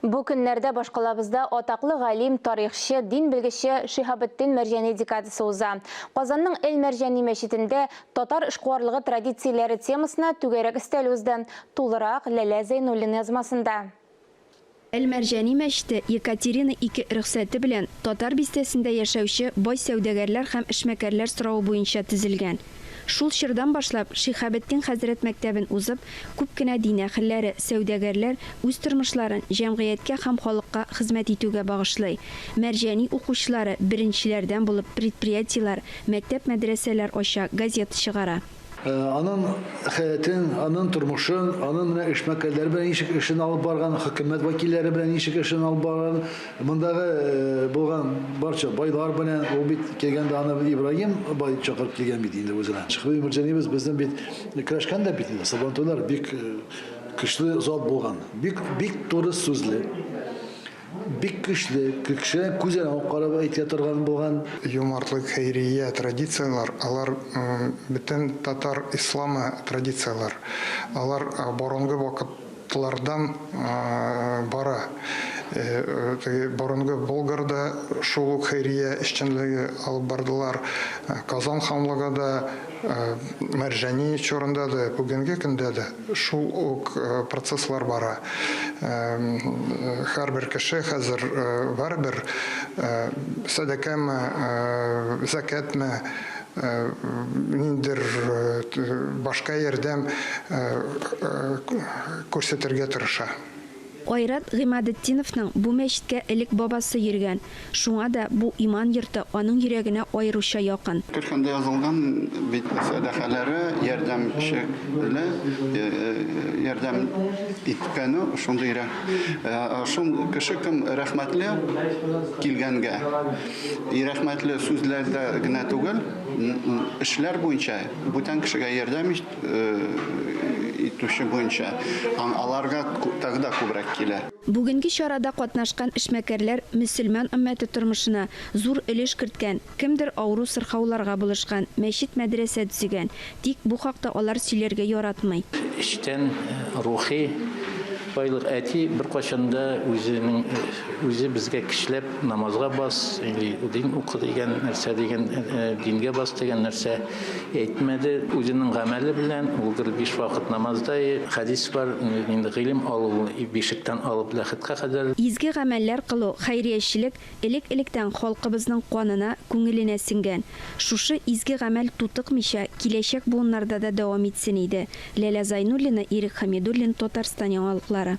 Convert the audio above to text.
Бу көннәрдә башкалабызда атаклы галим, тарихчы, дин белгече Шиһабетдин Мәрҗәни декадасы уза. Казанның Эль Мәрҗәни мәчетендә татар эшкуарлыгы традицияләре темасына түгәрәк өстәл узды. Тулырак, Ләлә Зәйнуллин язмасында. Эль Мәрҗәни мәчете Екатерина II рөхсәте белән Татар бистәсендә яшәүче бай сәүдәгәрләр һәм эшмәкәрләр соравы буенча төзелгән. Шул чордан башлап, Шиһабетдин хәзрәт мәктәбен узып, күп кенә дин әһелләре, сәүдәгәрләр үз тормышларын җәмгыятькә һәм халыкка хезмәт итүгә багышлый. Мәрҗани укучылары беренчеләрдән булып предприятиеләр, мәктәп-мәдрәсәләр ача, газета чыгара. Анын хәятын, анын тормышын, анын менә эшмәкәрләре белән ничек эшен алып барган, хөкүмәт вәкилләре белән ничек эшен алып барган, Мондагы булган барча байлар белән, ул бит килгәндә аны Ибраһим бай чакырып килгән бит инде үзенә. Шихри Мирҗанибез безнең бит көрәшкән дә бит инде. Сабантуйлар бик көчле зат булган. Бик бик туры сүзле. Бик көчле, кеше күзен алып карап әйтә торган булган. Юмартлык, хәйрия, традицияләр, алар бөтен татар исламы традицияләр. Алар борынгы вакыт Тлардан бара. Теге борынгы Болгарда шул ук хәйрия эшчәнлеге алып бардылар. Казан ханлыгы да Мәрҗани чорында да, бүгенге көндә дә шул ук процесслар бара. Һәрбер кеше хәзер барыбер сәдакәме, зәкятме, ниндидер башка ярдәм күрсәтергә тырыша. Айрат Гыймадетдиновның бу мәчеткә элек бабасы йөргән, шуңа да бу иман йорты аның йөрәгенә аеруча якын. Төркемдә язылган бит сәдакаләре, ярдәм чекле, ярдәм иткәне шундый рәх, шул кеше кем рәхмәтле килгәнгә. И рәхмәтле сүзләрдә генә түгел, эшләр буенча, бүтән кешегә ярдәм итүче буенча һәм аларга тагы да күбрәк килә. Бүгенге чарада катнашкан эшмәкәрләр мөселман өммәте тормышына зур өлеш керткән, кемдер авыру-сырхауларга булышкан, мәчет-мәдрәсә төзегән, Тик бу хакта алар сөйләргә яратмый. Эчтән рухи байлык. Әти беркайчан да үзенең үзе безгә кешеләп намазга бас или дин укы дигән нәрсә дигән дингә бас дигән нәрсә әйтмәде. Үзенең гамәле белән ул гел биш вакыт намазда. Хәдис бар инде, гыйлем алу ул бишектән алып ләхеткә кадәр. Изге гамәлләр кылу, хәйриячелек, Элек-электән халкыбызның канына, күңеленә сеңгән. Шушы изге гамәл тутыкмыйча, киләчәк буыннарда да дәвам итсен иде. Ләлә Зайнуллина, Ирек Хәмидуллин, Татарстан яңалыклары.